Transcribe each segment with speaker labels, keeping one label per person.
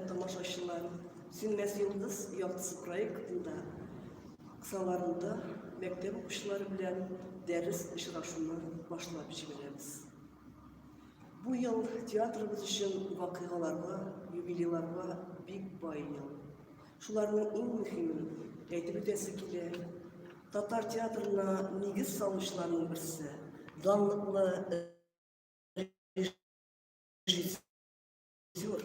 Speaker 1: тамашачылар Сүнмәс йолдыз яктысы проектында кысаларында мәктәп укучылары белән дәрес очрашуны башлап җибәрәбез. Бу ел театрыбыз өчен вакыйгаларга, юбилейларга бик бай ел. Шуларның иң мөһимен әйтеп үтәсе килә. Татар театрына нигез салучыларның берсе данлыклы режиссер Зур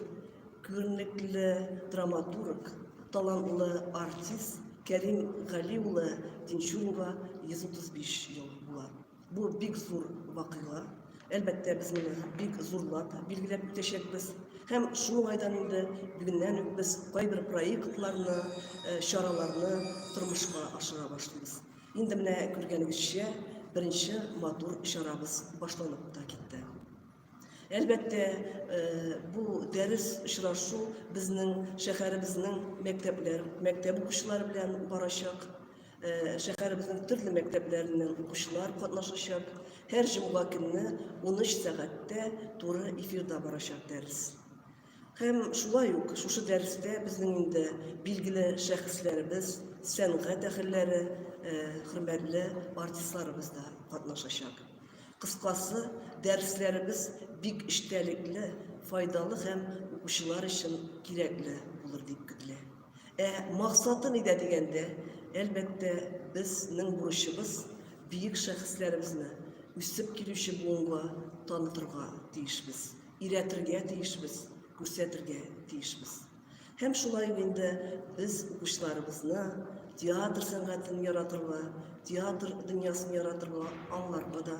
Speaker 1: күренекле драматург, талантлы артист Кәрим Гали улы Тинчуринга 135 ел була. Бу бик зур вакыйга. Әлбәттә, без моны бик зурлап билгеләп үтәчәкбез. Һәм шул уңайдан инде бүгеннән үк без кайбер проектларны, э, чараларны тормышка ашыра башлыйбыз. Инде менә күргәнегезчә, беренче матур чарабыз башланып та китте. Әлбәттә, бу дәрес очрашу безнең шәһәребезнең мәктәпләр, мәктәп укучылары белән барачак. Шәһәребезнең төрле мәктәпләреннән укучылар катнашачак. Һәр җомга көнне 13 сәгатьтә туры эфирда барачак дәрес. Һәм шулай ук шушы дәрестә безнең инде билгеле шәхесләребез, сәнгать әһелләре, хөрмәтле артистларыбыз да катнашачак. Кыскасы, дәресләребез бик эчтәлекле, файдалы һәм укучылар өчен кирәкле булыр дип көтелә. Ә максаты нидә дигәндә, әлбәттә, безнең бурычыбыз биек шәхесләребезне үсеп килүче буынга танытырга тиешбез. өйрәтергә тиешбез, күрсәтергә тиешбез. Һәм шулай ук инде без укучыларыбызны театр сәнгатен яратырга, театр дөньясын яратырга, аңларга да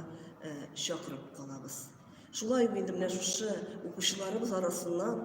Speaker 1: чакырып калабыз. Шулай ук инде менә шушы укучыларыбыз арасыннан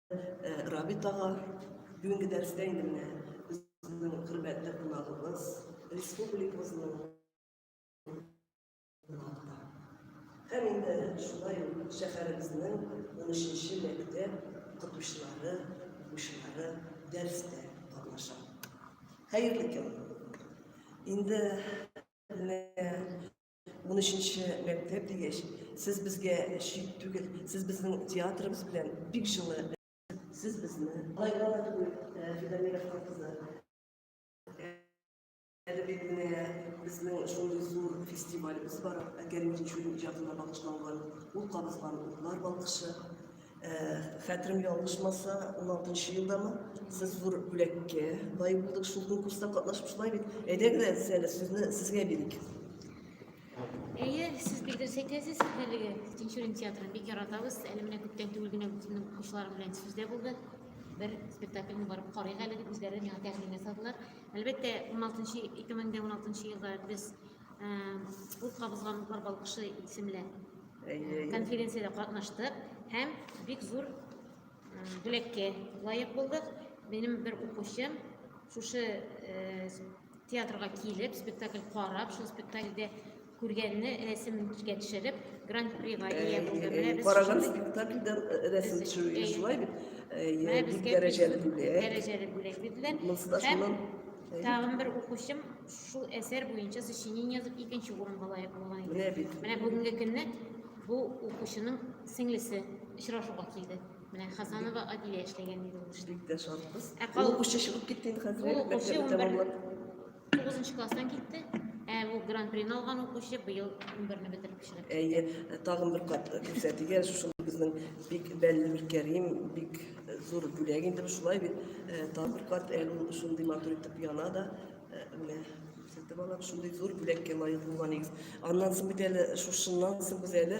Speaker 1: Рабит ага, бүгенге дәрестә инде менә безнең хөрмәтле кунагыбыз республикабызның һәм инде шулай ук шәһәребезнең унөченче мәктәп укытучылары, укучылары дәрестә катнаша. Хәерле көн! Инде менә 13-нче мәктәп дигәч, сез безгә чит түгел, сез безнең театрыбыз белән бик җылы. Сез безне алайга да түгел, э, Фидамировка кызы. Әле бит менә безнең шундый зур фестивалебез бар, Кәрим Тинчурин иҗатына багышланган. Ул кабызган утлар балкышы. Хәтерем ялгышмаса, 16 елдамы, сез зур бүләккә лаек булдык, шул конкурста катнашып шулай бит. Әйдәгез әле сез әле сүзне сезгә бирик. Әйе,
Speaker 2: сез бик дөрес әйтәсез, әлеге Тинчурин театрын бик яратабыз. Әле менә күптән түгел генә үземнең укучыларым белән сүздә булды. Бер спектакльне барып карыйк әле дип үзләре миңа тәкъдим ясадылар. Әлбәттә, 16 2016 елда без Ут кабызган Ухар балкышы исемле конференциядә катнаштык һәм бик зур бүләккә лаек булдык. Минем бер укучым шушы театрга килеп, спектакль карап, шул спектакльдә күргәнне рәсемен искә төшереп, гран-прига ия булды. Караган спектакльдә
Speaker 1: рәсем төшерүгә шулай бит. Бик дәрәҗәле бүләк. Дәрәҗәле бүләк бирделәр.
Speaker 2: Һәм тагын бер укучым Шул әсәр буенча сочинение язып икенче урынга лаек булган иде. Менә бит. Менә бүгенге көнне бу укучының сеңлесе очрашуга килде. Менә Хасанова Адилә эшләгән иде ул эшне. Бик тә шатбыз. Ә Ул
Speaker 1: кал- укучы чыгып китте инде хәзер. Ул укучы мәктәпне унбер-
Speaker 2: тәмамлап. Тугызынчы класстан китте. Ә бу гран-прины алган укучы быел унберне бетереп кешеләр. Әйе, тагын бер кат
Speaker 1: күрсәтергә, шул безнең бик бәлле Миркәрим, бик зур бүләк инде бу шулай бит. Э, Тагын бер кат әле ул шундый матур итеп яна да. Менә сәтте балап шундый зур бүләккә лаек булган егез. Аннан соң бит әле шушыннан соң без әле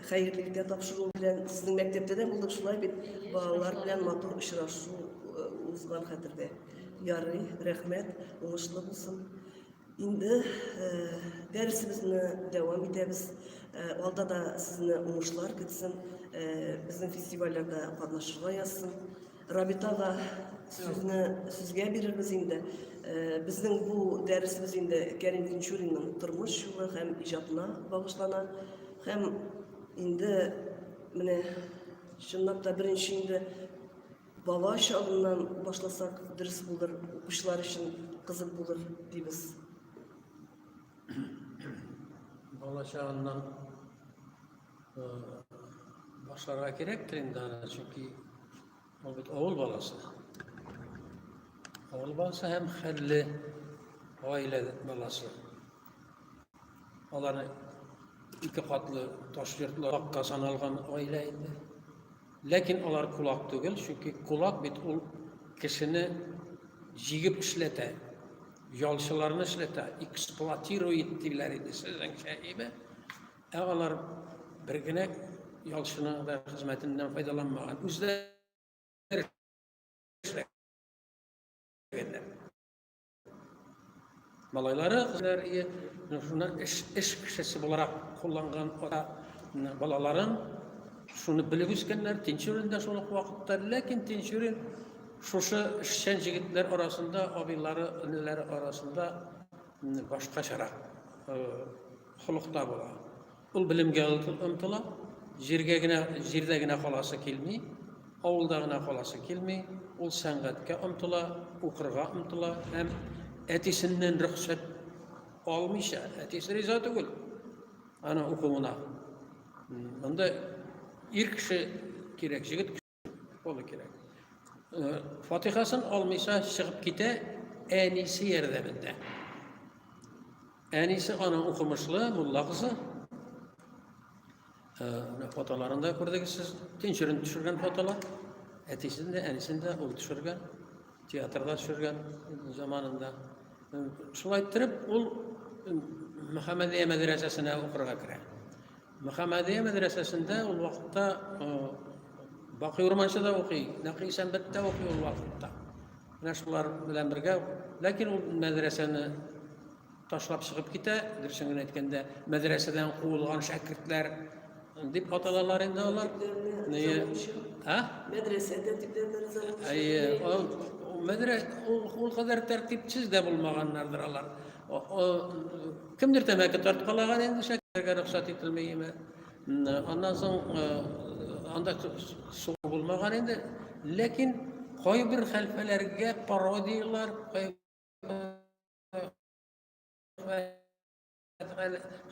Speaker 1: хәерле иртә тапшыру белән сезнең мәктәптә дә булдык шулай бит. Балалар белән матур очрашу э, узган хәтердә. Ярый, рәхмәт, уңышлы булсын. Инде э, дәресебезне дәвам итәбез. Э, алда да сезне уңышлар көтсен. Безнең фестивальләрдә катнашырга язсын. Рабитага сүзне сүзгә бирербез инде. Э, безнең бу дәресебез инде Кәрим Тинчуринның тормыш юлы һәм иҗатына багышлана. Һәм инде менә чынлап та беренче инде бала чагыннан башласак дөрес булыр, укучылар өчен кызык булыр дибез.
Speaker 3: Бала чагыннан башларга кирәктер инде аны, чөнки ул бит авыл баласы. Авыл баласы һәм хәлле гаилә баласы. Аларны ике катлы таш йортларга саналган гаилә инде. Ләкин алар кулак түгел, чөнки кулак бит ул кешене җигеп эшләтә, ялчыларны эшләтә, эксплуатирует диләр иде сезнең шәһибе. Ә алар бер генә ялчының да хезмәтеннән файдаланмаган. Үзләре эшләгәннәр. Малайлары хезмәтләр ие, шуны эш, эш кешесе буларак кулланган ата балаларын шуны белеп үскәннәр, Тинчурин да шул ук вакытта, ләкин Тинчурин шушы эшчән җегетләр арасында, абыйлары, энеләре арасында башкачарак Холыкта була. Ул белемгә омтыла, җиргә генә, җирдә генә каласы килми, авылда гына каласы килми, ул сәнгатькә омтыла, укырга омтыла һәм әтисеннән рөхсәт алмыйча, әтисе риза түгел аны укуына. Монда ир кеше кирәк, җегет Болы кирәк. Э, Фатихасын алмыйса чыгып китә әнисе ярдәмендә. Әнисе аның укымышлы, мулла кызы. Э, фотоларын да күрдегез сез. Тинчерен төшергән фотолар. Әтисен дә, әнисен дә ул төшергән. Театрда төшергән заманында. Э, шулай иттереп, ул Мөхәммәдия мәдрәсәсенә укырга керә. Мөхәммәдия мәдрәсәсендә ул вакытта Бакый Урманчы да укый, Нәкый Исәнбәт тә укый ул вакытта. Менә шулар белән бергә, ләкин ул мәдрәсәне ташлап чыгып китә, дөресен генә әйткәндә, мәдрәсәдән куылган шәкертләр дип аталалар инде алар. Ние? А? Мәдрәсә
Speaker 1: тәртипләреннән зарар. Әйе,
Speaker 3: ул мәдрәсә ул кадәр тәртипсез дә булмаганнардыр алар. Кемдер тәмәке тарткалаган инде шәкәргә рөхсәт ителми име. Аннан соң анда сугу булмаган инде. Ләкин кайбер хәлфәләргә пародияләр,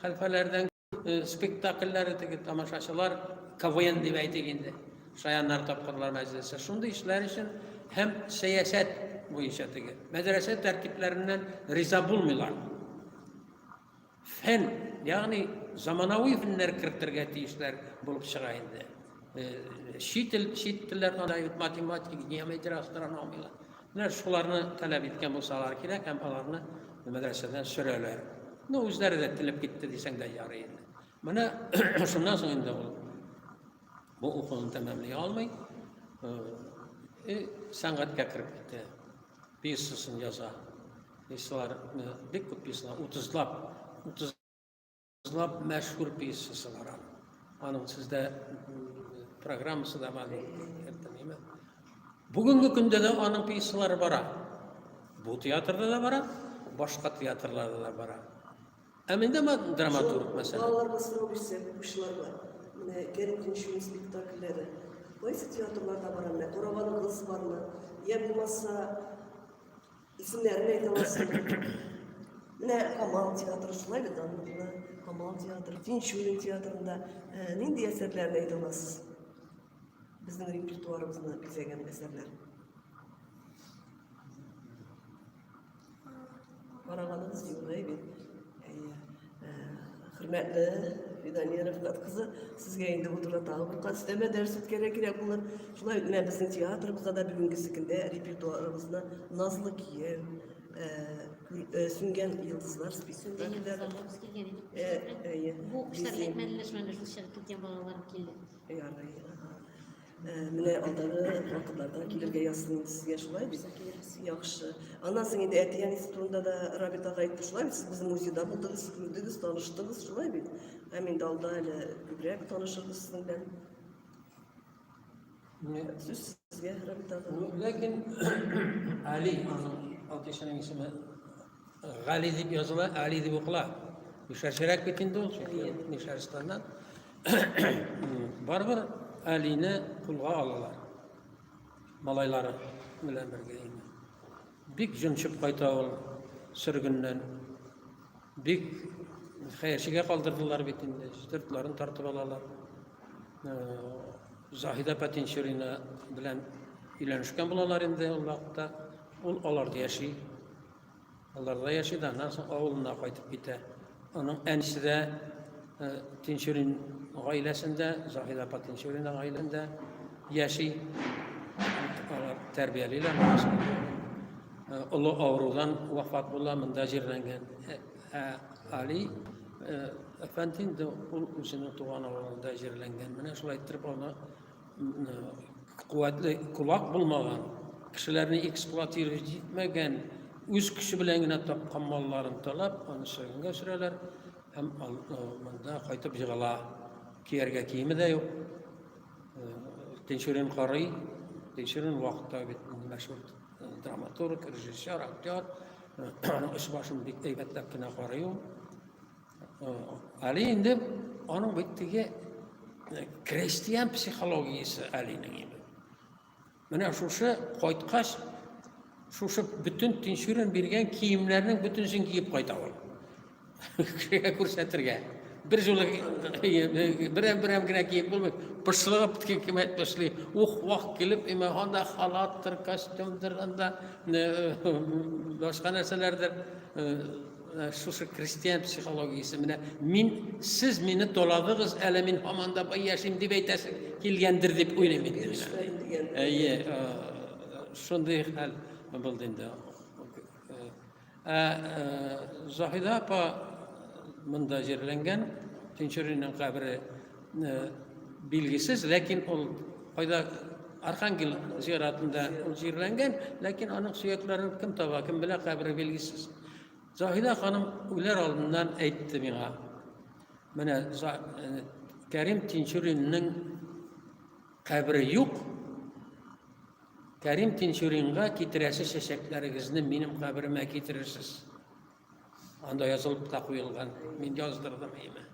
Speaker 3: хәлфәләрдән Э, спектакльләре теге тамашачылар КВН дип әйтик инде. Шаяннар тапкырлар мәҗлесе. Шундый эшләр өчен һәм сәясәт буенча теге. Мәдрәсә тәртипләреннән риза булмыйлар. Фән, ягъни заманауи фәннәр кертергә тиешләр булып чыга инде. Э, чит ил, чит телләр анда математика, геометрия, астрономия. Менә шуларны таләп иткән булсалар кирәк һәм аларны мәдрәсәдән сөрәләр. Ну, үзләре дә телеп китте дисәң дә ярый инде. Менә шуннан соң инде ул бу укуын тәмамлый алмый, и сәнгатькә кереп китә. Пьесасын яза. Пьесалар бик күп пьесалар, 30лап, 30 Ныклап мәшһүр пьесасы бар аның сездә программасы да бар әйтәме бүгенге көндә дә аның пьесалары бара бу театрда да бара башка театрларда да бара ә менде драматург мәсәлән балаларга сорау бирсә
Speaker 1: укучыларга менә кәрим тинчуин спектакльләре кайсы театрларда бара менә караган кыз бармы я булмаса Исемнәрен әйтә аласыңмы? Менә Камал театры шулай бит данлыклы. Камал театры, Тинчурин театрында ә, нинди әсәрләрне әйтә аласыз? Безнең репертуарыбызны бизәгән әсәрләр. Караганыбыз югы бит. Хөрмәтле Фидания Рәфнат кызы, сезгә инде бу турыда тагы бер кат өстәмә дәрес үткәрә кирәк булыр. Шулай менә безнең театрыбызда да бүгенге көндә репертуарыбызны Назлы кием, э, э, Сүнгән йолдызлар спектакльләре. Бу кешеләр әйтмәделәр, шулай
Speaker 2: шул шәл киткән балалар килде. Ярый.
Speaker 1: Менә алдагы вакытларда килергә язсын сезгә шулай бит. Яхшы. Аннан соң инде әти әнисе турында да Рабит ага әйтте шулай бит. Сез безнең музейда булдыгыз, күрдегез, таныштыгыз шулай бит. Һәм инде алда әле күбрәк танышырбыз сезнең белән. Сүз сезгә Рабит ага. Ләкин
Speaker 3: Али аның атышының исеме Гали дип языла, Али дип укыла. Мишәрчерәк бит инде ул, чөнки Мишәрстаннан. Барыбер Алине кулга алалар. Малайлары белән бергә инде. Бик җончып кайта ул сөргеннән. Бик хәерчегә калдырдылар бит инде, сыртларын тартып алалар. Заһидә Патинчурина белән өйләнешкән булалар инде ул вакытта. Ул аларда яши. Аларда яши да, аннан соң авылына кайтып китә. Аның әнисе дә э, Тинчурин гаиләсендә, Заһид апа Тинчурина гаиләсендә яши. Алар тәрбиялиләр. Э, олы авырудан вафат була, монда җирләнгән. Э, ә Али Әфәнди инде ул үзенең туган авылында җирләнгән. Менә шулай иттереп аны куәтле кулак булмаган, кешеләрне эксплуатировать итмәгән, үз көче белән генә тапкан малларын талап, аны шәгенгә сөрәләр һәм монда кайтып егыла. Кияргә киеме дә юк. Тинчурин карый. Тинчурин вакытта бит мәшһүр драматург, режиссер, актер. Аның эш башын бик әйбәтләп кенә карый ул. Әле инде аның бит теге э, крестьян психологиясе әлинең инде. Менә шушы кайткач, шушы бөтен тинчүрен биргән киемнәрнең бөтенсен киеп кайта ул. Кешегә күрсәтергә. Бер җылы берәм берәм генә киеп булмый. Пышлыгып кем әйтмешли. Ух, вах килеп, имә анда халаттыр, костюмдыр, анда э, э, башка нәрсәләрдер Э, шушы крестьян психологиясе менә мин сез мине толадыгыз әле мин һаман да бай яшим дип әйтәсе килгәндер дип уйлыйм инде әйе э, шундый хәл булды инде ә заһида апа монда җирләнгән тинчуринның кабере Билгесез, ләкин ул кайда Архангел зиратында ул җирләнгән, ләкин аның сөякләрен кем таба, кем белә, кабере билгесез. Заһидә ханым үләр алдыннан әйтте миңа. Менә э, Кәрим Тинчуринның кабере юк. Кәрим Тинчуринга китерәсе чәчәкләрегезне минем каберемә китерерсез. Анда язылып та куелган. Мин яздырдым име.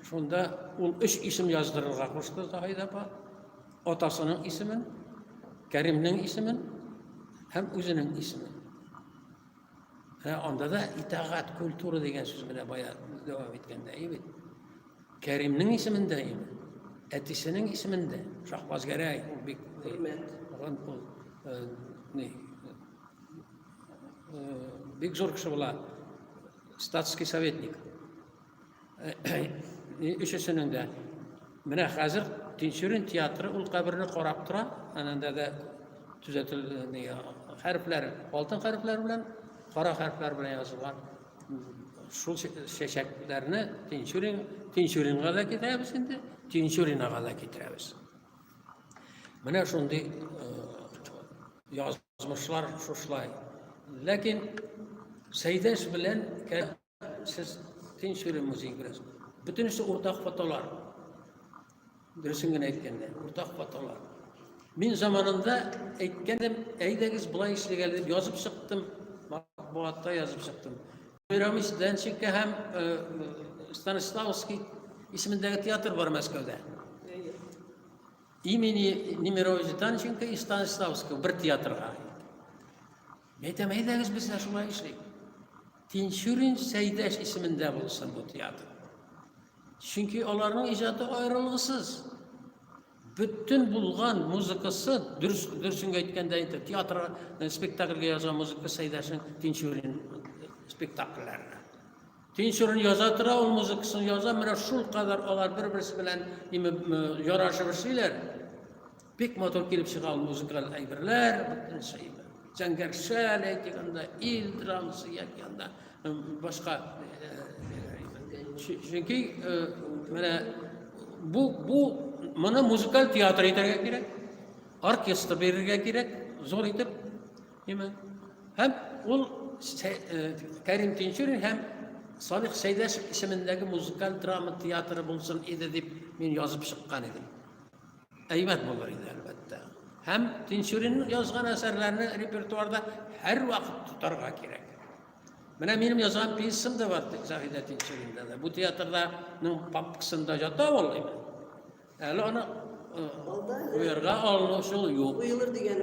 Speaker 3: Шунда ул өч исем яздырырга кушты Заһида апа. Атасының исемен, Кәримнең исемен һәм үзенең исемен. Ә анда да итагат, культура дигән сүз белән бая дәвам иткәндә, бит. Кәримнең исемен дә инде, әтисенең исемен дә, Шахбаз Гәрәй, ул бик хөрмәт, ул бик зур кеше була. Статский советник. Өчесенең дә. Менә хәзер Тинчурин театры ул каберне карап тора. Анында да төзәтелгән хәрефләр, алтын хәрефләр белән, кара хәрефләр белән язылган. Шул чәчәкләрне Тинчурин, Тинчуринга да китерәбез инде, Тинчуринага да китерәбез. Менә шундый язу Язмышлар шушлай. Ләкин Сәйдәш белән сез тин сөйләм музей бераз. Бөтенесе уртак фотолар. Дөресен генә әйткәндә, уртак фотолар. Мин заманында әйткәндем, әйдәгез болай эшләгә дип язып чыктым, матбугатта язып чыктым. Мирамис Денченко һәм Станиславский исемендәге театр бар Мәскәүдә. Имени Немировича Данченко и Станиславского бер театрга. Әйтәм, әйдәгез без дә шулай эшлик. Тинчурин Сәйдәш исемендә булсын бу театр. Чөнки аларның иҗаты аерылгысыз. Бөтен булган музыкасы, дөрес дөресен әйткәндә инде театр э, спектакльгә язган музыка Сәйдәшнең Тинчурин спектакльләренә. Тинчурин яза тора, ул музыкасын яза, менә шул кадәр алар бер-берсе белән име ярашып эшлиләр. Бик матур килеп чыга ул музыкаль әйберләр, бөтенчә име. Зәңгәршәл әйтик анда, ил драмасы яки анда башка чөнки менә бу бу моны музыкаль театр итәргә кирәк, оркестр бирергә кирәк, зур итеп Нимә? Һәм ул э, Кәрим Тинчурин һәм Салих Сәйдәшев исемендәге музыкаль драма театры булсын иде дип мин язып чыккан идем. Әйбәт булыр иде, әлбәттә. Һәм Тинчурин язган әсәрләрне репертуарда һәр вакыт тотарга кирәк. Менә минем язган пьесам да бар Заһидә Тинчуринда да. Бу театрданың папкасында ята ул инде. Әле аны уярга алыну шул юк. Уелыр дигән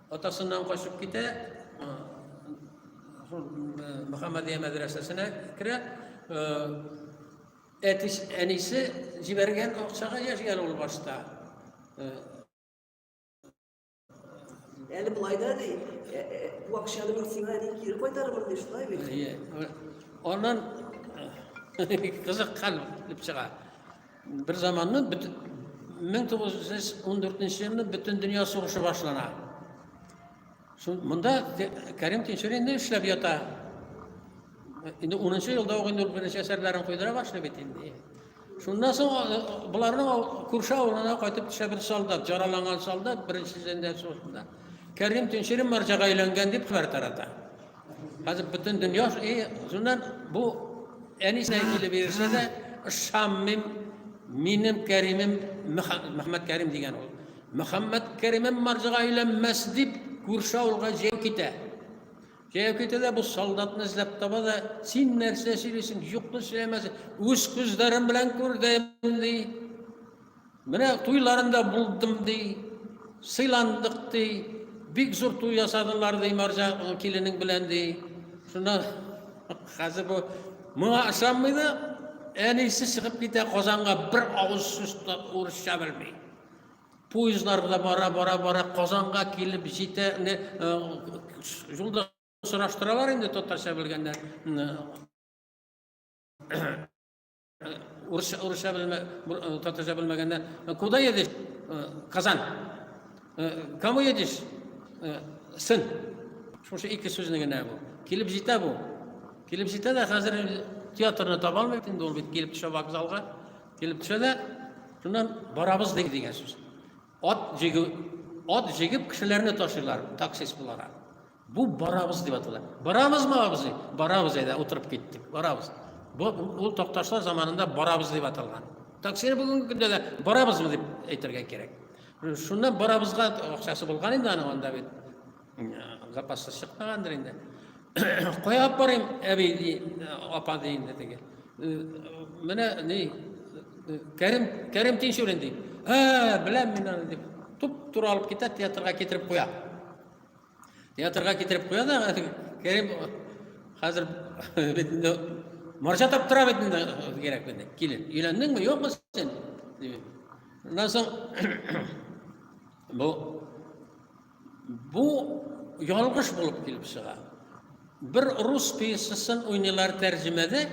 Speaker 3: Атасыннан качып китә, шул Мөхәммәдия мәдрәсәсенә керә. Әтис, әнисе җибәргән акчага яшәгән ул башта.
Speaker 1: Әле болай да ди, бу акчаны мин сиңа ди кире кайтарырмын
Speaker 3: ди, шулай бит. Әйе. Аннан кызыккан дип чыга. Бер заманны 1914 елны бөтен дөнья сугышы башлана. Шул монда Кәрим Тинчурин инде эшләп ята. Инде 10 елда ук инде беренче әсәрләрен куйдыра башлый бит инде. Шуннан соң боларның күрше авылына кайтып төшә бер солдат, жараланган солдат беренче зәндә сугышында. Кәрим Тинчурин марҗага әйләнгән дип хәбәр тарата. Хәзер бөтен дөнья и шуннан бу әнисенә килеп ирешә дә ышанмыйм минем кәримем мөхәммәд кәрим дигән ул мөхәммәд кәримем марҗага өйләнмәс дип күрше авылга җәяү китә җәяү китә дә бу солдатны эзләп таба да син нәрсә сөйлисең юкны сөйләмәсең үз күзләрем белән күрдем ди Менә туйларында булдым ди, сыйландык ди, бик зур туй ясадылар ди Марҗа киленең белән ди. Шуннан хәзер бу моңа ышанмый да әнисе чыгып китә Казанга бер авыз сүз урысча белми. Поездлар белән бара бара бара Казанга килеп җитә. Юлда сораштыралар инде татарча белгәндә. Урысча, урысча белмә, татарча белмәгәннәр. Куда едешь? Казан. Кому едешь? Сын. Шушы ике сүзне генә бу. Килеп җитә бу. Килеп җитә дә хәзер театрны таба алмый инде ул бит килеп төшә вокзалга. Килеп төшә дә шуннан барабыз дигән сүз. Ат җигү, ат җигеп кешеләрне ташыйлар таксист буларак. Бу барабыз дип атала. Барабызмы абзый? Барабыз әйдә, утырып киттек. Барабыз. Бу ул такташлар заманында барабыз дип аталган. Таксине бүгенге көндә дә барабызмы дип әйтергә кирәк. Шуннан барабызга акчасы булган инде аның анда бит. Запасы чыкмагандыр инде. Кая алып барыйм, әби, ди, апа, ди инде теге. Менә ни, Кәрим, Кәрим Тинчурин ди. Ә, беләм мин аны дип, туп-тура алып китә, театрга китереп куя. Театрга китереп куя да, Кәрим хәзер бит инде марҗа таптыра бит инде кирәк бит. Килен, өйләндеңме, юкмы син? Дим. Аннан соң бу Бу ялгыш булып килеп чыга. Бер рус пьесасын уйныйлар тәрҗемәдә.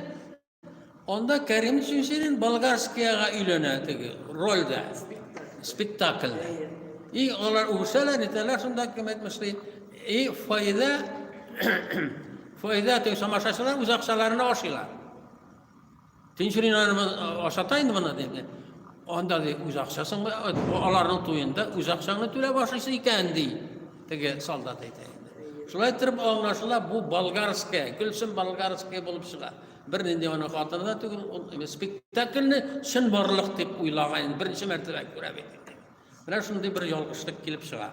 Speaker 3: Анда Кәрим Чүнчерин болгарскияга өйләнә теге рольдә, спектакльдә. И алар үсәләр, нитәләр шунда кем әйтмешли. И файда файда теге самашачылар үз акчаларына ашыйлар. Тинчуриннарыбыз ашата инде моны диде. Анда ди үз акчасын аларның туенда үз акчаңны түләп ашыйсы икән ди. Теге солдат әйтә. Шулай торып аңлашыла, бу болгарская, Гөлсем болгарская булып чыга. Бер нинди аны хатыны да түгел, ул спектакльне чын барлык дип уйлаган, беренче мәртәбә күрә бит. Менә шундый бер ялгышлык килеп чыга.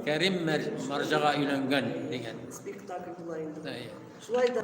Speaker 3: Кәрим Марҗага өйләнгән дигән. Спектакль
Speaker 1: була инде. Шулай да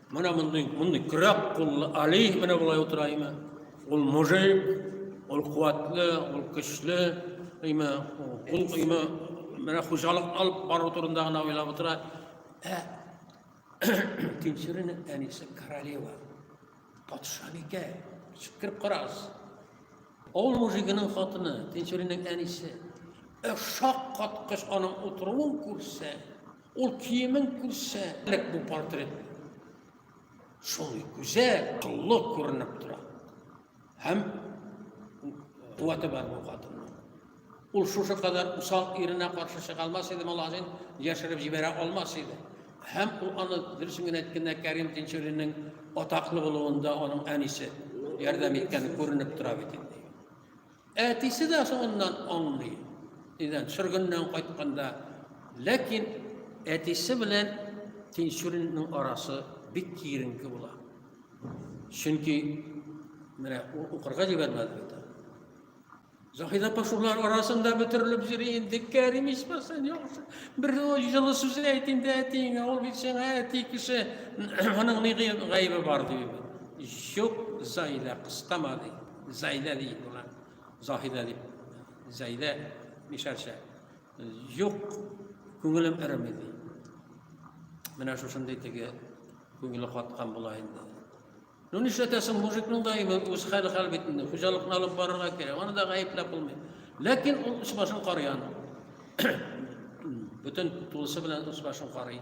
Speaker 3: Менә мондый, мондый көрәк куллы Али менә болай утыра име. Ул мужик, ул куәтле, ул көчле, име, ул име, менә хуҗалык алып бару турында гына уйлап утыра. Ә Тинчеренең әнисе королева, патшабикә, чикереп карагыз. Ул мужигының хатыны, Тинчеренең әнисе, ә шаккаткыч аның утыруын күрсә, Ул киемен күрсә, элек бу портрет шул гүзәл, кыллы күренеп тора. Һәм куәте бар бу хатынның. Ул шушы кадәр усал иренә каршы чыга алмас иде, Малазин яшереп җибәрә алмас иде. Һәм ул аны дөресен генә әйткәндә Кәрим Тинчуринның атаклы булуында аның әнисе ярдәм иткәне күренеп тора бит инде. Әтисе дә соңыннан аңлый, нидән, сөргеннән кайтканда. Ләкин әтисе белән Тинчуринның арасы бик киеренке була. Чөнки менә укырга җибәрмәде бит. Заһидә Пашулар арасында бөтерелеп йөри инде, Кәрим исмәсен яхшы. Бер җылы сүз әйт инде әтиеңә, ул бит сиңа әти кеше, аның ни гаебе бар ди. Юк, Заһидә кыстама ди. Зәйдә ди буна. Заһидә ди. Зәйдә мишәрчә. Юк, күңелем эреми ди. Менә шушындый теге күңеле каткан була инде. Ну нишләтәсең, мужикның да инде үз хәле хәл бит инде. Хуҗалыкны алып барырга кирәк. Аны да гаепләп булмый. Ләкин ул үз башын карыян. Бүтән тулысы белән үз башын карый.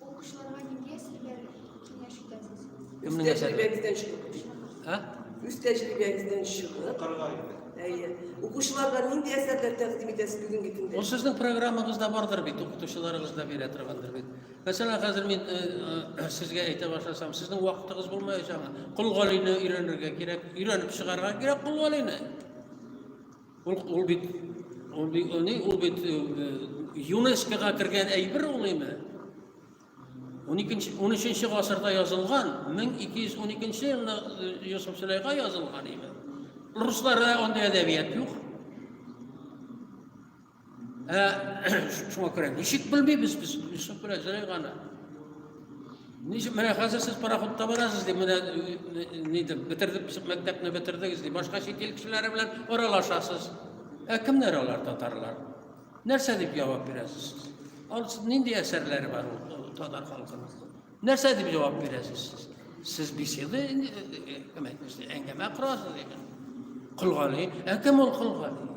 Speaker 4: Укучыларга нинди әсәрләр киңәш итәсез?
Speaker 3: Үз
Speaker 1: тәҗрибәгездән чыгып. Ә? Үз тәҗрибәгездән
Speaker 3: чыгып.
Speaker 1: Карга инде. Әйе. Укучыларга нинди әсәрләр тәкъдим итәсез бүгенге көндә? Ул сезнең программагызда
Speaker 3: бардыр бит, укытучыларыгыз да бирә торгандыр бит. Мәсәлән, хәзер мин э, э, сезгә әйтә башласам, сезнең вакытыгыз булмаячак. Кол галине өйрәнергә кирәк, өйрәнеп чыгарга кирәк кол галине. Ул, ул бит ул бит ул ни ул бит ЮНЕСКОга кергән әйбер ул инде. 12 13 гасырда язылган, 1212 елда Йосыф Сөләйга язылган иде. Русларда андый әдәбият юк. Ә, шуңа күрә ничек белмибез без, шуңа күрә җырый гана. Ничек менә хәзер сез пароходта барасыз дип, менә ни дип бетердек, мәктәпне бетердегез дип, башка чит ил кешеләре белән аралашасыз. Ә кемнәр алар татарлар? Нәрсә дип җавап бирәсез? Ал нинди әсәрләре бар ул татар халкының? Нәрсә дип җавап бирәсез сез? Сез беседа кем әйтмешли, әңгәмә корасыз икән. Колгали, ә кем ул Колгали?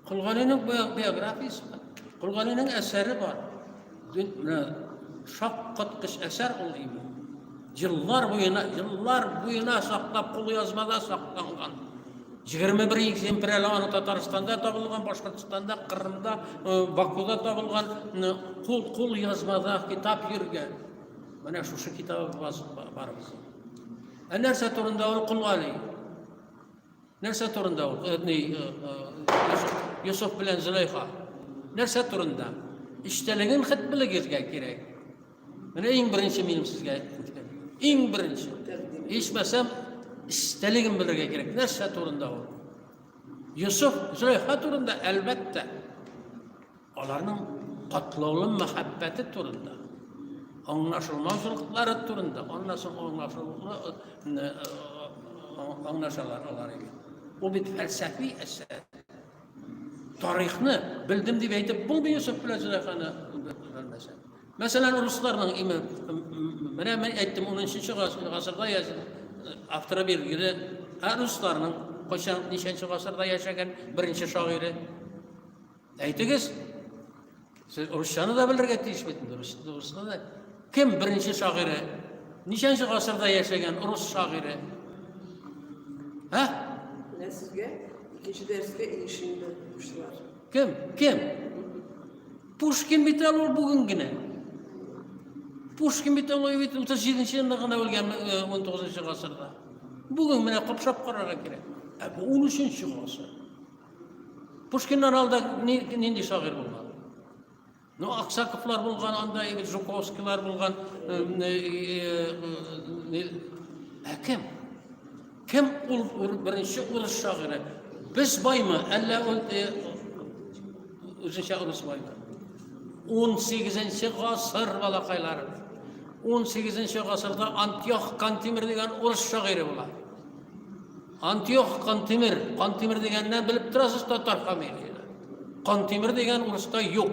Speaker 3: Колгалинең биографиясе бар. Колгалинең әсәре бар. Менә шаккаткыч әсәр ул име. Еллар буена, еллар буена саклап кулъязмада сакланган. Җигерме бер экземпер әле аны Татарстанда табылган, Башкортстанда, Кырымда, э, Бакуда табылган кул кул язмада китап йөргән. Менә шушы китабы бар безнең. Ә нәрсә турында ул кул али? Нәрсә турында ул? Э, э, Йосыф белән Зөләйха. Нәрсә турында? Эчтәлеген хәт белегезгә кирәк. Менә иң беренче минем сезгә әйтеп үткән. Иң беренче. Ичмәсәм, истәлеген белергә кирәк. Нәрсә турында ул? Йосыф, Зөләйха турында әлбәттә. Аларның катлаулы мәхәббәте турында. Аңлашылмаузылыклары турында. Аннан соң аңлашылмы э, э, аңлашалар алар иде. Ул бит фәлсәфи әсәр. Тарихны белдем дип әйтеп булмый Йосыф белән Зөләйханы белмәсәң. Мәсәлән, русларның име, менә мен әйттем, 10-нчы гасырда яшәгән э, автора билгеле, ә русларның кайчан ничәнче гасырда яшәгән беренче шагыйре. Әйтегез, сез русчаны да белергә тиеш бит инде, русны да. Кем беренче шагыйре? Ничәнче гасырда яшәгән рус шагыйре? Ә? Менә сезгә икенче дәрескә
Speaker 1: ирешенде руслар. Кем? Кем?
Speaker 3: Пушкин бит әле ул бүген генә. Пушкин бит ул бит 37-нче елда гына үлгән 19-нчы гасырда. Бүген менә капшап карарга кирәк. Ә бу 13-нче гасыр. Пушкиннан алда нинди шагыйрь булган? Ну, Аксаковлар булган, анда егет Жуковскийлар булган. Ә кем? Кем ул беренче урыс шагыйре? Без баймы, әллә ул э, үзенчә урыс баймы? 18-нче гасыр балакайлары. 18-нче гасырда Антиох Кантимир дигән урыс шагыйре була. Антиох Кантимир, Кантимир дигәннән белеп торасыз татар фамилиясе. Кантимир дигән урыста юк.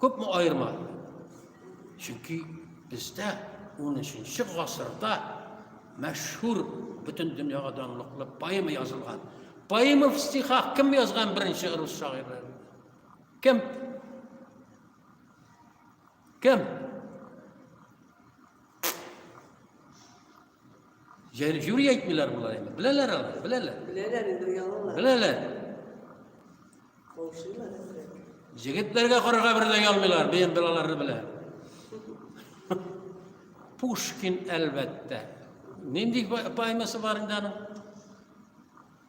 Speaker 3: Күпме аерма? Чөнки бездә 13-нче гасырда мәшһүр бөтен дөньяга данлыклы поэма язылган. Поэма в стихах кем язган беренче рус шагыйре? Кем? Кем? Җәйрек юри әйтмиләр болар инде. Беләләр алар, беләләр. Беләләр инде
Speaker 1: оялалар. Беләләр.
Speaker 3: Каушыйлар
Speaker 1: инде. Җегетләргә
Speaker 3: карарга берлә ялмыйлар, бейем балалары белә. Пушкин әлбәттә. Нинди поэмасы бар инде аның?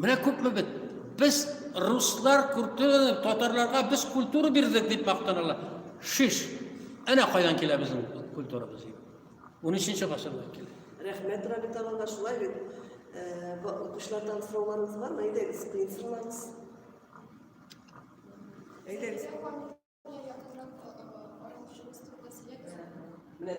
Speaker 3: Менә күпме бит. Без руслар культураны татарларга без культура бирдек дип мактаналар. Шиш. Әнә кайдан килә безнең культурабыз. 13-нче гасырдан килә. Рәхмәт, Рабит алла, шулай бит. Э, Укучылардан сорауларыгыз бармы? Әйдәгез, кыен соралагыз.
Speaker 1: Әйдәгез. Менә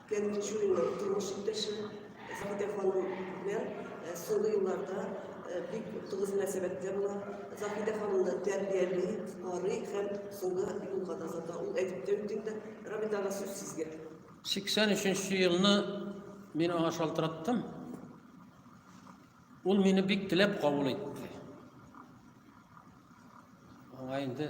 Speaker 1: Фәнил Чуриның тормыш иптәше Сабитә ханым белән соңгы елларда бик тыгыз мөнәсәбәттә була. Заһидә ханымны тәрбияли, карый һәм соңгы юлга да озата. Ул әйтеп тә үтте инде, Рабитага сүз сезгә. 83
Speaker 3: елны мин аңа шалтыраттым. Ул мине бик теләп кабул итте. Аңа инде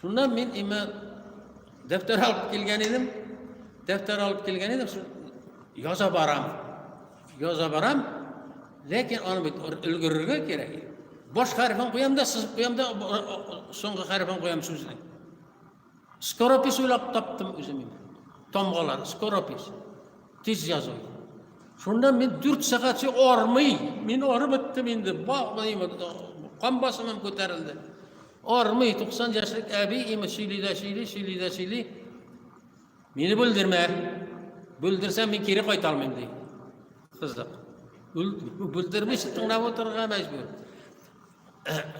Speaker 3: Шуннан мин имә дәфтәр алып килгән идем. Дәфтәр алып килгән идем. Яза барам. Яза барам. Ләкин аны бит өлгерергә кирәк. Баш хәрефен куям да, сызып куям да, соңгы хәрефен куям сүзне. Скоропис уйлап таптым үзем. Тамгалар, скоропис. Тиз язу. Шуннан мин 4 сәгать армый. Мин арып беттем инде. Ба, кан басымым күтәрелде. Армый, 90 яшьлек әби имеш сөйли дә сөйли, сөйли дә сөйли. Мине бүлдермә. Бүлдерсәм мин кире кайта алмыйм ди. Кызык. Бүлдермичә тыңлап утырырга мәҗбүр.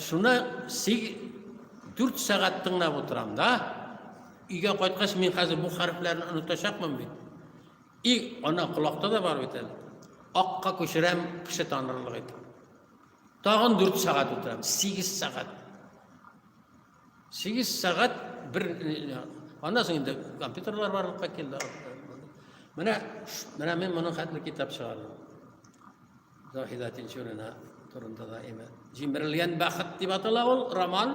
Speaker 3: Шуны 4 сәгать тыңлап утырам да. Өйгә кайткач мин хәзер бу хәрефләрне онытачакмын бит. И, ана колакта да бар бит әле. Акка күчерәм кеше танырлык итеп. Тагын дүрт сәгать утырам, сигез сәгать. Сигез сәгать бер... Аннан соң инде компьютерлар барлыкка килде. Менә, менә мин моның хәтле китап чыгардым. Заһида Тинчурина турында да әйме. Җимерелгән бәхет дип атала ул роман.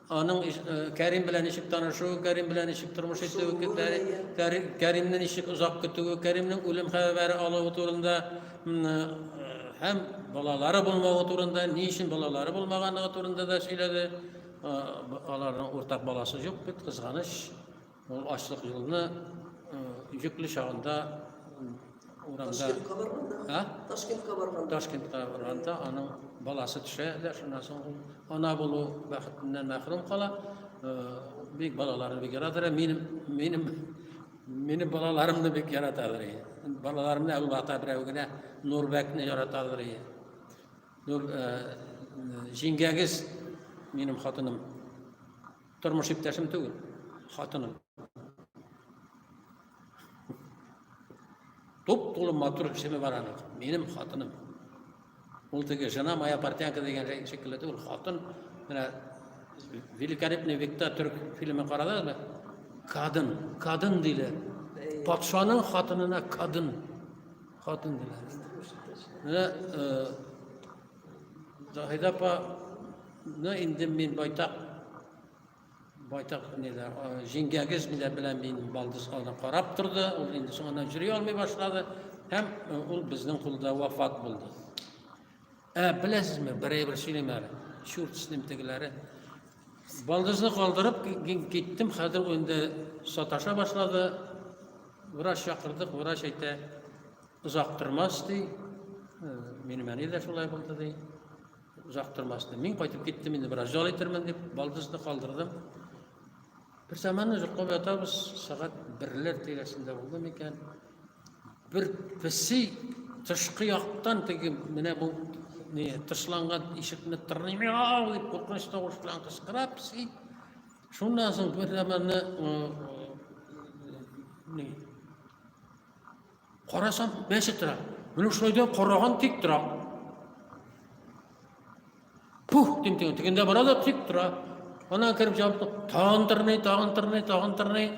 Speaker 3: Аның иш- э, Кәрим белән ничек танышуы, Кәрим белән ничек тормыш итүе, Кәри- Кәри- Кәримне ничек озак көтүе, Кәримнең үлем хәбәре алуы турында м, э, һәм балалары булмавы турында, ни өчен балалары булмаганлыгы турында да сөйләде. Э, б- Аларның уртак баласы юк бит, кызганыч. Ул ачлык юлны йөкле чагында урамда Ташкентка барганда,
Speaker 1: Ә? Ташкентка
Speaker 3: барганда.
Speaker 1: Ташкентка барганда
Speaker 3: аның баласы төшә дә шуннан соң ул ана булу бәхетеннән мәхрүм кала. Э, Бик балаларын бик яратыр. Минем минем минем балаларымны бик яраталар. Балаларымны Әбу Бата берәү генә Нурбәкне яраталар. Нур э, җиңгәгез минем хатыным Тормыш иптәшем түгел, хатыным. Туп тулы матур кешеме бар аның? Минем хатыным. Ул теге жена моя портянка дигән шикелле түгел, хатын менә великолепный векта төрк фильмы карадыгызмы? Кадын, кадын диләр. Патшаның хатынына кадын. Хатын диләр. Менә э, Заһида апаны инде мин байтак байтак ниләр җиңгәгез белән белән мин балдыз аны карап торды ул инде соңыннан йөри алмый башлады һәм э, ул безнең кулда вафат булды ә беләсезме бер әйбер сөйлим әле чурт с ним тегеләре балдызны калдырып киттем хәзер инде саташа башлады врач чакырдык врач әйтә Озак тормас ди. Минем әни дә шулай булды ди. Озак тормас ди. Мин кайтып киттем инде, бераз ял итермен дип, балдызны калдырдым. Бер заманны йоклап ятабыз, сәгать берләр тирәсендә булды микән? Бер песи тышкы яктан теге менә бу не тышланган ишекне тырный, мяу дип куркыныч тавыш белән кычкыра песи. Шуннан соң бер заманны не Карасам, мәчет тора. Менә шулай да караган тик тора. Пух, дим тегендә, тегендә бара да тик тора. Ана кереп җавапты, тагын тырный, тагын тырный, тагын тырный.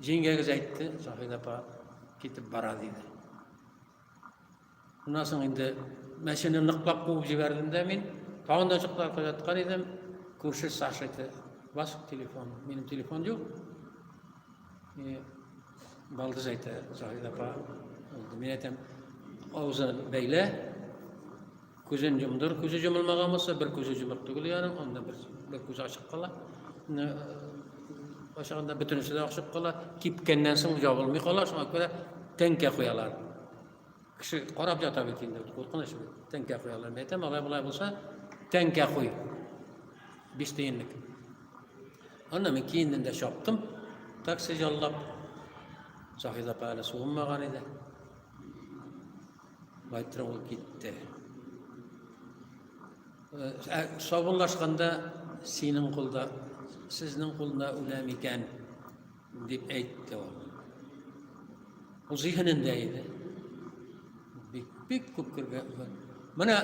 Speaker 3: Җиңгәгез әйтте, Сафина апа китеп бара диде. Шуннан соң инде мәчене ныклап куып җибәрдем дә мин. Тагын да чыктылар куяткан идем. Күрше Саша әйтте, бас телефон. Минем телефон юк. И Балдыз әйтә, Заһид апа. Мин әйтәм, авызын бәйлә, күзен йомдыр, күзе йомылмаган булса, бер күзе йомык түгел яның, анда бер, бер күзе ачык кала. Ашаганда бөтенесе дә ачык кала, кипкәннән соң ябылмый кала, шуңа күрә тәңкә куялар. Кеше карап ята бит инде, куркыныч бит. Тәңкә куялар. Мин әйтәм, алай болай булса, тәңкә куй. Биш тиенлек. Аны мин киендем дә чаптым. Такси яллап. Заһид апа әле суынмаган иде. Байтра ул китте. Э, ә, Сабынлашканда синең кулда, сезнең кулда үләм икән. Дип әйтте ул. Ул зиһенендә иде. Бик, бик күп күргән. Менә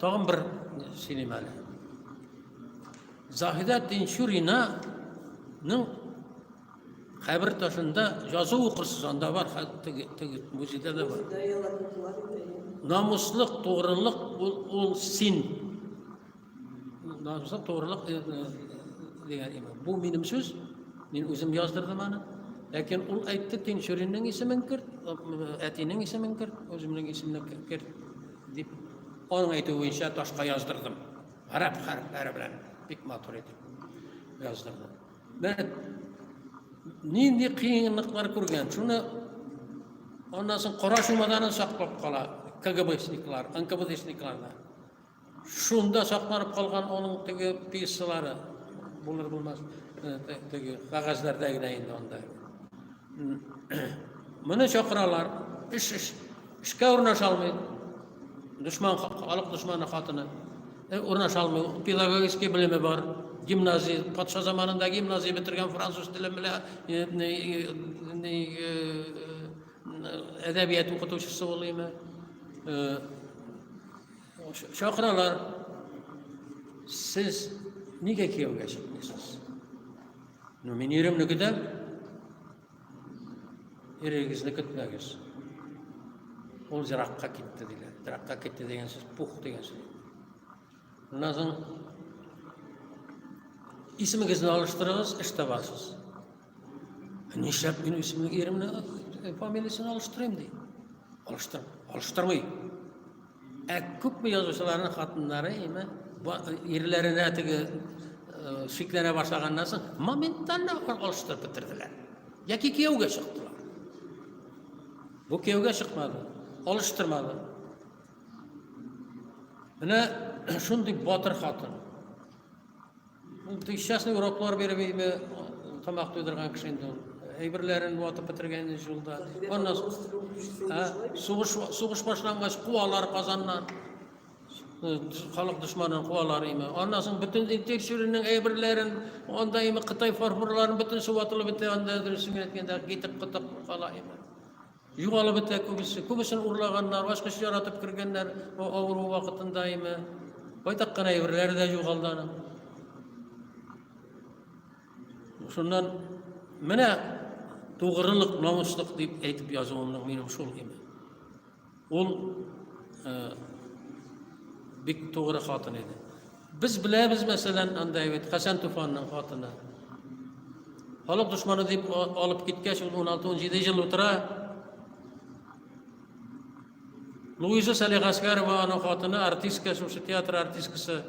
Speaker 3: тагын бер сөйлим әле. Заһидә Тинчуринаның хәбер ташында язу укырсыз, анда бар, теге, теге музейда да бар. Намуслык, тугрылык ул, ул син Намсыз турылык дигән имам. Бу минем сүз. Мин үзем яздырдым аны. Ләкин ул әйтте, Тинчуринның исемен керт, әтинең исемен керт, үземнең исемне керт дип аның әйтүе буенча ташка яздырдым. Гарәп хәрефләре белән бик матур итеп яздырдым. Менә нинди кыенлыклар күргән. Шуны аннан соң кара чумаданын саклап кала КГБшниклар, НКВДшниклар да. Шунда сакланып калган аның теге пьесалары булыр булмас теге кагазьләрдә генә инде анда. Моны чакыралар, эш эш эшкә урнаша алмый. Дошман халык дошманы хатыны. Э, урнаша алмый. Педагогический белеме бар. Гимназия, патша заманында гимназия бетергән француз теле белән э, э, әдәбият укытучысы ул име. Чакыралар. Сез нигә кияүгә чыкмыйсыз? Ну, мин иремне көтәм. Ирегезне көтмәгез. Ул зиракка китте дигән. Зиракка китте дигән сүз пух дигән сүз. Шуннан соң исемегезне алыштырыгыз, эш табасыз. Нишләп мин исемне иремне э, фамилиясен алыштырыйм ди. Алыштыр, алыштырмый. Ә күпме язучыларның хатыннары име ирләренә э, теге э, шикләнә башлаганнан соң моментально алыштырып бетерделәр. Яки кияүгә чыктылар. Бу кияүгә чыкмады, алыштырмады. Менә шундый батыр хатын. Ул тыйшчасный уроклар биреп инде тамак туйдырган кеше инде ул. Әйберләрен ватып бетергән инде җулда. Аннан сугыш сугыш башлангач куалар Казаннан. Халык дошманын куалар име. Аннан соң бөтен тикшерүнең әйберләрен, анда име Кытай фарфорларын бөтенесе ватылып бетә, анда дөресен әйткәндә китеп кытып кала име. Югалып бетә күбесе. Күбесен урлаганнар, ачкыч яратып кергәннәр авыру вакытында име. Байтак кына әйберләре дә югалды аның. Шуннан менә тугрылык, намуслык дип әйтеп язуымның минем шул име. Ул э, бик тугры хатын иде. Без беләбез, мәсәлән, анда бит Хәсән Туфанның хатыны. Халык дошманы дип алып киткәч, ул 16-17 ел утыра. Луиза Салихаскарова аның хатыны, артистка, шушы театр артисткасы.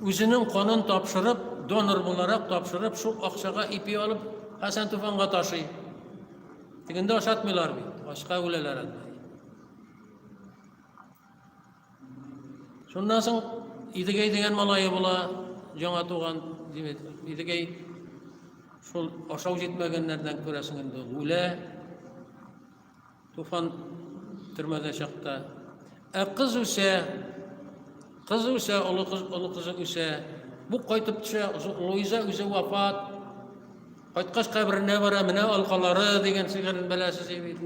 Speaker 3: Үзенең канын тапшырып, донор буларак тапшырып, шул акчага ипи алып, Хәсән Туфанга ташый. Тегендә ашатмыйлар бит, ашка үләләр әлбәттә. Шуннан соң Идегәй дигән малае була, яңа туган, димәк, Идегәй шул ашау җитмәгәннәрдән күрәсең инде үлә. Туфан төрмәдә чакта. Ә кыз үсә, кыз үсә, олы кыз, олы кызы үсә. Бу кайтып төшә, Луиза үзе вафат. Кайткач каберенә бара, менә алкалары дигән шигырен беләсез бит.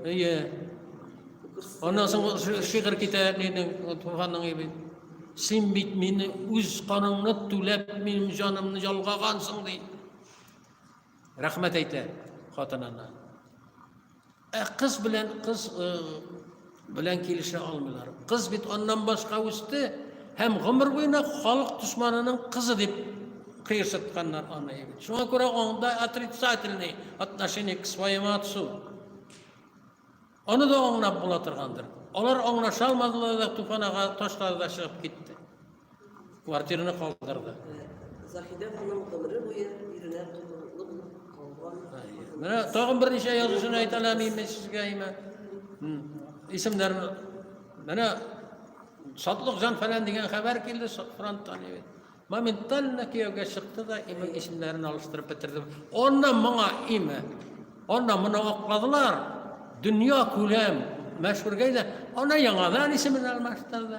Speaker 3: Әйе. Аннан соң шигырь китә әнинең, туганың бит. Син бит мине үз каныңны түләп, минем җанымны ялгагансың ди. Рәхмәт әйтә хатынына. Ә кыз белән кыз белән килешә алмыйлар. Кыз бит аннан башка үсте һәм гомер буена халык дошманының кызы дип кыерсытканнар аны бит. Шуңа күрә анда отрицательный отношение к своему отцу. Аны да аңлап була торгандыр. Алар аңлаша алмадылар да Туфанага ташлады да чыгып китте. Квартираны калдырды. Заһидә
Speaker 1: ханым гомере буе иренә тотрыклы булып калган. Менә
Speaker 3: тагын берничә язучыны әйтә алмыйм мин сезгә имә. Исемнәрен менә Сатлык җан фәлән дигән хәбәр килде фронттан. Моментально кияүгә чыкты да имә исемнәрен алыштырып бетердем. Аннан моңа имә. Аннан моны акладылар. Дөнья күләм мәшһүргә дә ана яңадан исемен алмаштырды.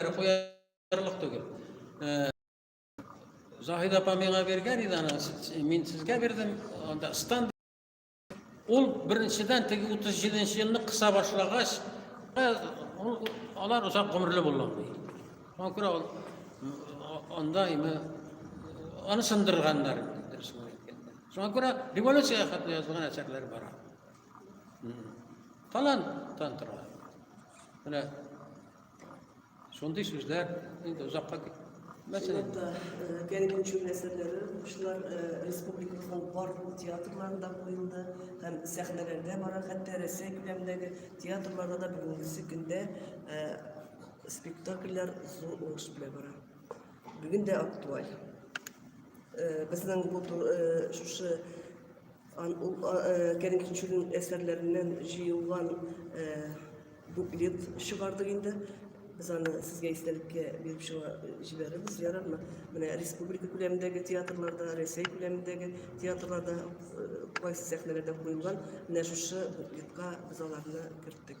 Speaker 3: бер куярлык түгел. Э, Заһид апа миңа биргән иде аны, мин сезгә бирдем. Анда стан ул беренчедән теге 37 елны кыса башлагач, э, алар озак гомерле булган. Шуңа күрә ул анда име аны сындырганнар дип Шуңа күрә революция хәтле язылган әсәрләр бар. Таланттан тора. Менә Шундый сүзләр инде озакка мәсәлән Гәрәй
Speaker 1: Күчү әсәрләре укучылар республикабызның барлык театрларында куелды һәм сәхнәләрдә бара, хәтта Рәсәй күләмендәге театрларда да бүгенгесе көндә спектакльләр зур уңыш белән бара. Бүген дә актуаль. Безнең бу шушы Ан ул Кәрим Тинчурин әсәрләреннән җыелган буклет чыгардык инде. Без аны сезгә истәлеккә биреп чыга җибәрербез, ярармы? Менә республика күләмендәге театрларда, Рәсәй күләмендәге театрларда кайсы сәхнәләрдә куелган, менә шушы буклетка без аларны керттек.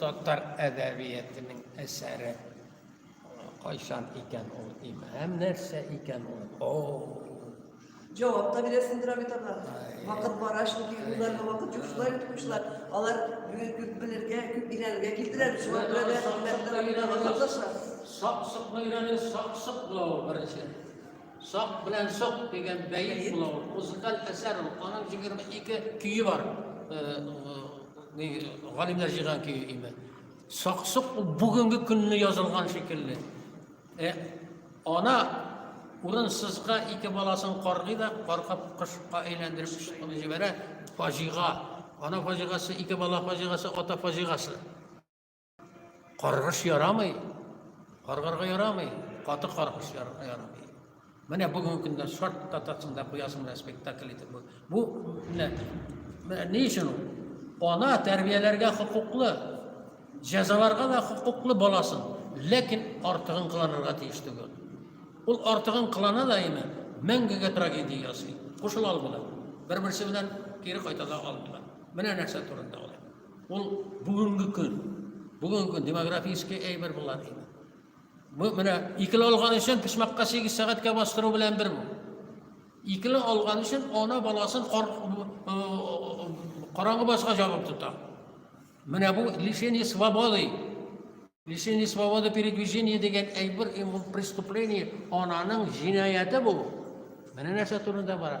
Speaker 3: Татар әдәбиятының әсәре кайчан икән ул имам нәрсә икән ул о
Speaker 1: Җавап та бирәсендер бит аңа. Вакыт бара шул юлларга вакыт юк шулай бит кушлар. Алар күп белергә, күп өйрәнергә килдерәр. Шуңа күрә дә хезмәтләр
Speaker 3: сак-сак өйрәнү, сак-сак булу беренче. Сак белән сок дигән бәет була ул. Музыкаль әсәр ул. Аның 22 көе бар. Галимнәр җыйган көе име. Сак-сок ул бүгенге көнне язылган шикелле. Э, ана урынсызга ике баласын каргый да, каркып кышка әйләндереп чыкны җибәрә. Фаҗига. Ана фаҗигасы, ике бала фаҗигасы, ата фаҗигасы. Каргыш ярамый. Каргарга ярамый. Каты каргыш ярамый. Менә бүгенге көндә шарт татасын да куясың да спектакль итеп. Бу менә менә ни өчен ул? Ана тәрбияләргә хокуклы, җәзаларга да хокуклы баласын, ләкин артыгын кыланырга тиеш түгел. Ул артыгын кылана да инде мәңгегә трагедия ясый. Кушыла алмыйлар. Бер-берсе белән кире кайта да алмыйлар. Менә нәрсә турында ул. Ул бүгенге көн, бүгенге көн демографический әйбер болар инде. Бу менә икеле алган өчен пешмәккә 8 сәгатькә бастыру белән бер бу. Икеле алган өчен ана баласын караңгы баска җабып тота. Менә бу лишение свободы. Лишение свободы передвижения дигән әйбер преступление ананың җинаяте бу. Менә нәрсә турында бара.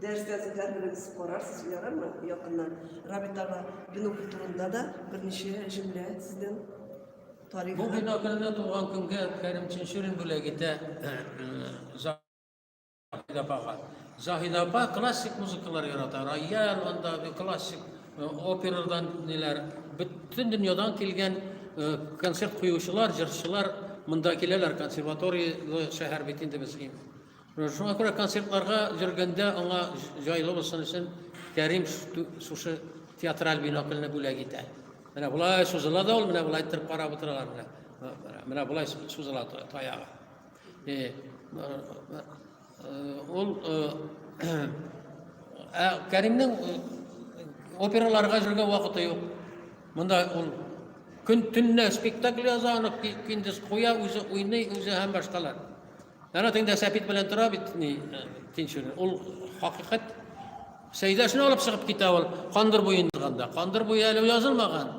Speaker 1: Дәрестә тотарбыз, карарсыз, ярармы? Якыннан
Speaker 3: Рабитага бинокль турында да берничә җөмлә сезнең тарих. Бу бинокльне туган көнгә Кәрим Чинчурин бүләк итә Заһид апага. Заһид апа классик музыкалар ярата. Рояль, анда классик операдан ниләр, бөтен дөньядан килгән концерт куючылар, җырчылар монда киләләр, консерватория шәһәр бит инде безгә. Шуңа күрә концертларга йөргәндә аңа җайлы булсын өчен Кәрим шушы театраль бинокльне бүләк итә. Менә болай сузыла да ул, менә болай иттереп карап утыралар менә. Менә болай сузыла таягы. Э, ул э, ә Кәримнең э, операларга йөргән вакыты юк. Монда ул көн төнлә спектакль яза, аны киндис куя, үзе уйный, үзе һәм башкалар. Әнә теңдә сәпит белән тора бит, ни, тинчүне. Ул хакыйкать. Сәйдәшне алып чыгып китә ул, кандыр буен язганда. Кандыр буе әле язылмаган.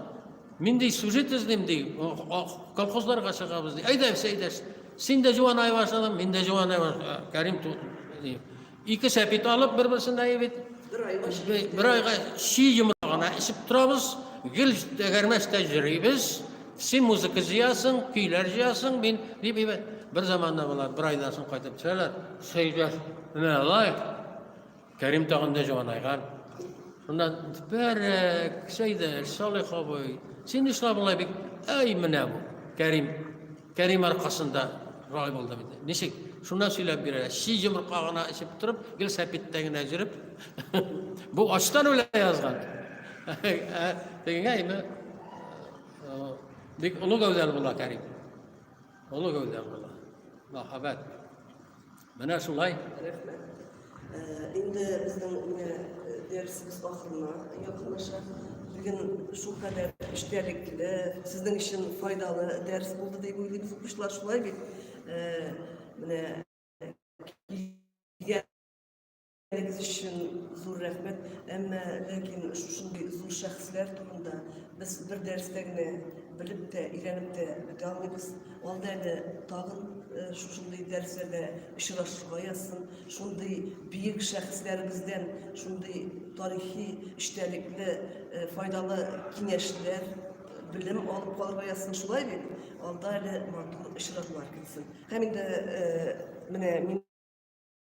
Speaker 3: Мин ди, сюжет эзлим ди, колхозларга чыгабыз ди. Әйдә, Сәйдәш, син дә җуанай башладың, мин дә җуанай башладым. Кәрим, Ике сәпит алып, бер-берсендә ебит. Бер айга чи йомра гына эчеп торабыз, гел тәгәрмәстә йөрибез. Син музыка җыясың, көйләр җыясың, мин дип ебет. Бер заманда болар бер айдан соң кайтып төшәләр. Сәйдәш, менә алай. Кәрим тагын да җанайган. Шунда бәрәк, Сәйдәш, Салих абый, син нишләп болай бик? Әй, менә бу. Кәрим Кәрим аркасында рай булды бит. Ничек? Шуннан сөйләп бирә. Чи йомырка гына эчеп торып, гел сәпиттә генә җөреп. Бу ачтан үлә язган. Тегенгә инде бик олы гәүдәле була Кәрим. Олы гәүдәле була. Мәхәббәт. Менә шулай. Рәхмәт.
Speaker 1: Инде безнең менә дәресебез ахырына якынлаша. Бүген шул кадәр эчтәлекле, сезнең өчен файдалы дәрес булды дип уйлыйбыз. Укучылар шулай бит. Менә Әгез өчен зур рәхмәт. Әмма ләкин шушындый зур шәхесләр турында без бер дәрестә генә белеп тә, өйрәнеп тә бетә алмыйбыз. Алда әле тагын э, шушындый дәресләрдә очрашырга язсын. Шундый биек шәхесләребездән шундый тарихи эчтәлекле, э, файдалы киңәшләр, белем алып калырга язсын. Шулай бит? Алда әле матур очрашулар көтсен. Һәм инде э, менә мин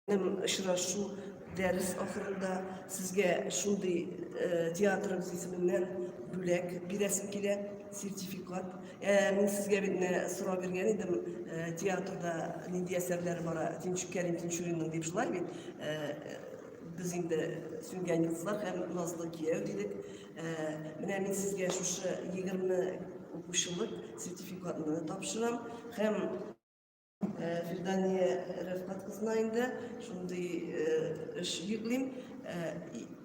Speaker 1: Очрашу дәрес ахырында сезгә шундый э, театрыбыз исеменнән бүләк бирәсем килә, сертификат. Ә, э, мин сезгә бит менә сорау биргән идем, э, театрда нинди әсәрләр бара, Тинчүк Кәрим Тинчуринның дип шулай бит. Без инде сүнгән йолдызлар һәм назлы кияү дидек. Менә мин сезгә шушы 20 укучылык сертификатны тапшырам һәм Э, Фирдания Рәфкат кызына инде шундый э, эш йөклим. Э,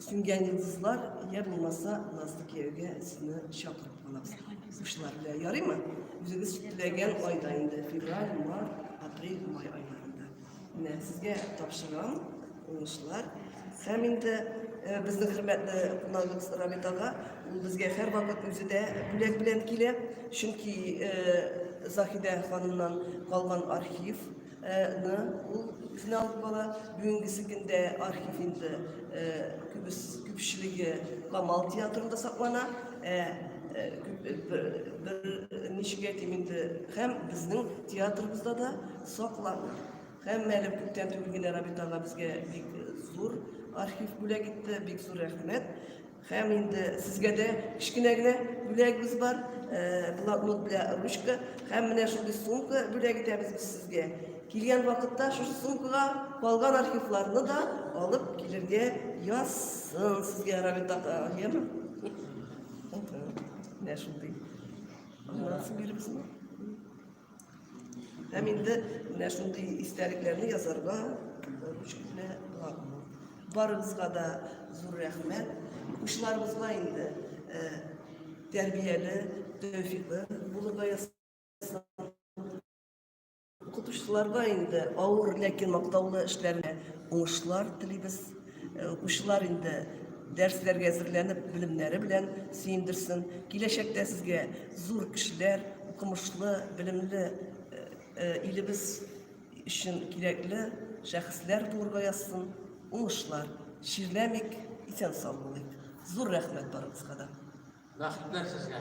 Speaker 1: Сүнгән йолдызлар я булмаса Назлы кияүгә сине чакырып калабыз. Учлар белән ярыймы? Үзегез теләгән айда инде февраль, март, апрель, май айларында. Менә сезгә тапшырам. Уңышлар. Һәм инде э, безнең хөрмәтле кунагыбыз Рамит ага, ул безгә һәрвакыт үзе дә бүләк белән килә, чөнки э, Заһидә ханымнан калган архив ны ул үзенә алып бара. Бүгенгесе көндә архив инде э, күбес күпчелеге Камал театрында саклана. Э, бер ничек әйтим инде, һәм безнең театрыбызда да саклана. Һәммә әле күптән түгел генә Рабит ага безгә бик зур архив бүләк итте, бик зур рәхмәт. Һәм инде сезгә дә кечкенә генә бүләгебез бар, э, блокнот белә ручка, һәм менә шундый сумка бүләк итәбез без сезгә. Килгән вакытта шушы сумкага калган архивларны да алып килергә язсын сезгә Рабит ага, яме? Менә шундый. Аннан соң биребезме? Һәм инде менә шундый истәлекләрне язарга ручка белән буламы? Барыбызга да зур рәхмәт. Учларыбызга инде э, тәрбияле, тәүфиклы булырга ясасын. Укытучыларга инде авыр, ләкин мактаулы эшләренә уңышлар телибез. Э, укучылар инде дәресләргә әзерләнеп белемнәре белән сөендерсен киләчәктә сезгә зур кешеләр укымышлы белемле э, э, илебез өчен кирәкле шәхесләр туырга язсын уңышлар чирләмик исән сау
Speaker 3: булыйк
Speaker 1: зур рәхмәт барыгызга да
Speaker 3: рәхмәтләр
Speaker 1: сезгә